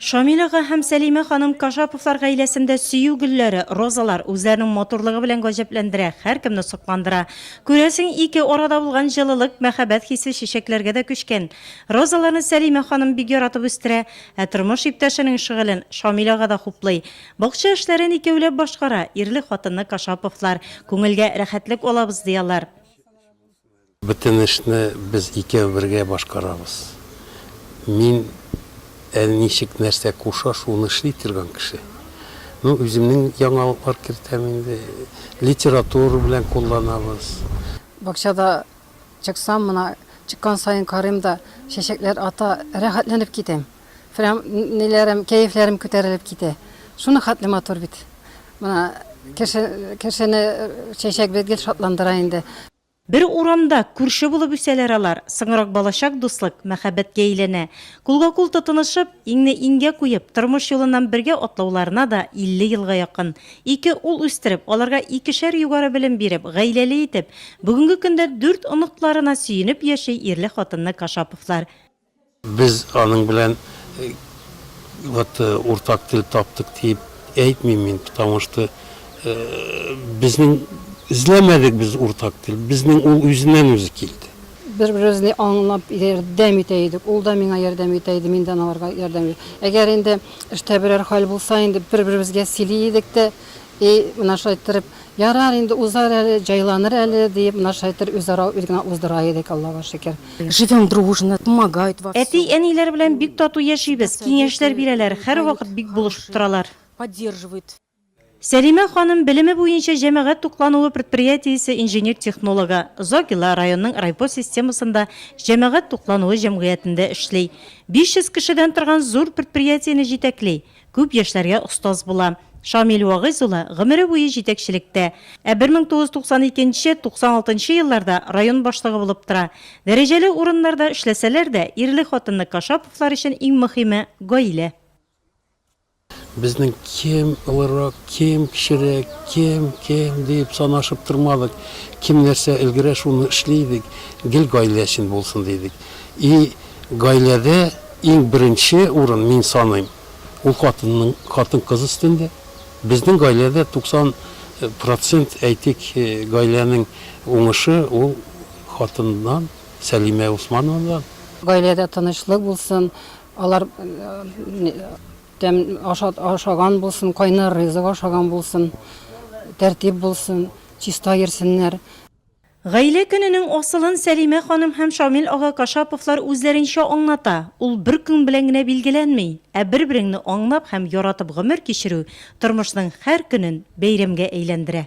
Шамил ага һәм Сәлимә ханым Кашаповлар гаиләсендә сөю гөлләре, розалар, үзләренең матурлыгы белән гаҗәпләндерә, һәркемне сокландыра. Күрәсең, ике арада булган җылылык, мәхәббәт хисе чәчәкләргә дә күчкән. Розаларны Сәлимә ханым бик яратып үстерә, ә тормыш иптәшенең шөгылен Шамил ага да хуплый. Бакча эшләрен икәүләп башкара, ирле-хатынлы Кашаповлар. Күңелгә рәхәтлек алабыз, ди алар. Бөтен эшне без икәү бергә башкарабыз. Мин әл ничек нәрсә куша, шуны эшли торган кеше. Ну, үземнең яңалыклар кертәм инде. Литература белән кулланабыз. Бакчада чыксам, мына чыккан саен карыйм да, чәчәкләр ата, рәхәтләнеп китәм. Прям ниләрем, кәефләрем күтәрелеп китә. Шуны хәтле матур бит. Мына кеше, кешене чәчәк бит гел шатландыра инде. Бер урамда, күрше булып үсәләр алар, соңрак балачак дуслык, мәхәббәткә әйләнә. Кулга-кул тотынышып, иңне иңгә куеп, тормыш юлыннан бергә атлауларына да 50 елга якын. Ике ул үстереп, аларга икешәр югары белем биреп, гаиләле итеп, бүгенге көндә дүрт оныкларына сөенеп яши ирле-хатынлы Кашаповлар. Без аның белән вот уртак тел таптык диеп әйтмим мин, потому что безнең эзләмәдек без уртак тел, безнең ул үзеннән үзе килде. Бер-беребезне аңлап ярдәм итә идек, ул да миңа ярдәм итә иде, мин дә аңарга ярдәм итә. Әгәр инде эштә берәр хәл булса, инде бер-беребезгә сөйли идек тә, И, менә шулай иттереп, ярар инде, узар әле, җайланыр әле, диеп, менә шулай иттереп үзара үз генә уздыра идек, Аллага шөкер. Живем дружно, помогают во всем. Әти-әниләр белән бик тату яшибез, киңәшләр бирәләр, һәрвакыт бик булышып торалар. Сәлимә ханым, белеме буенча җәмәгать туклануы предприятиесе инженер-технологы, Зогила районының райпо системасында җәмәгать туклануы җәмгыятендә эшли. 500 кешедән торган зур предприятиене җитәкли. Күп яшьләргә остаз була. Шамил Вагыйз улы гомере буе җитәкчелектә. Ә 1992, 96 нчы елларда район башлыгы булып тора. Дәрәҗәле урыннарда эшләсәләр дә, ирле-хатынлы Кашаповлар өчен иң мөхиме, гаилә. Безнең кем олырак, кем кечерәк, кем, кем диеп санашып тормадык. Кем нәрсә өлгерә, шуны эшли идек. Гел гаилә өчен булсын, дидек. И гаиләдә. Иң беренче урын, мин саныйм, ул хатынның, хатын-кыз өстендә. Безнең гаиләдә 90 процент, әйтик, гаиләнең уңышы ул хатыннан, Сәлимә Усманованадан. Гаиләдә тынычлык булсын, алар тәм ашат ашаган булсын, кайнар ризык ашаган булсын, тәртип булсын, чиста йөрсеннәр. Гаилә көненең асылын Сәлимә ханым һәм Шамил ага Кашаповлар үзләренчә аңлата, ул бер көн белән генә билгеләнми, ә бер-береңне аңлап һәм яратып гомер кичерү тормышның һәр көнен бәйрәмгә әйләндерә.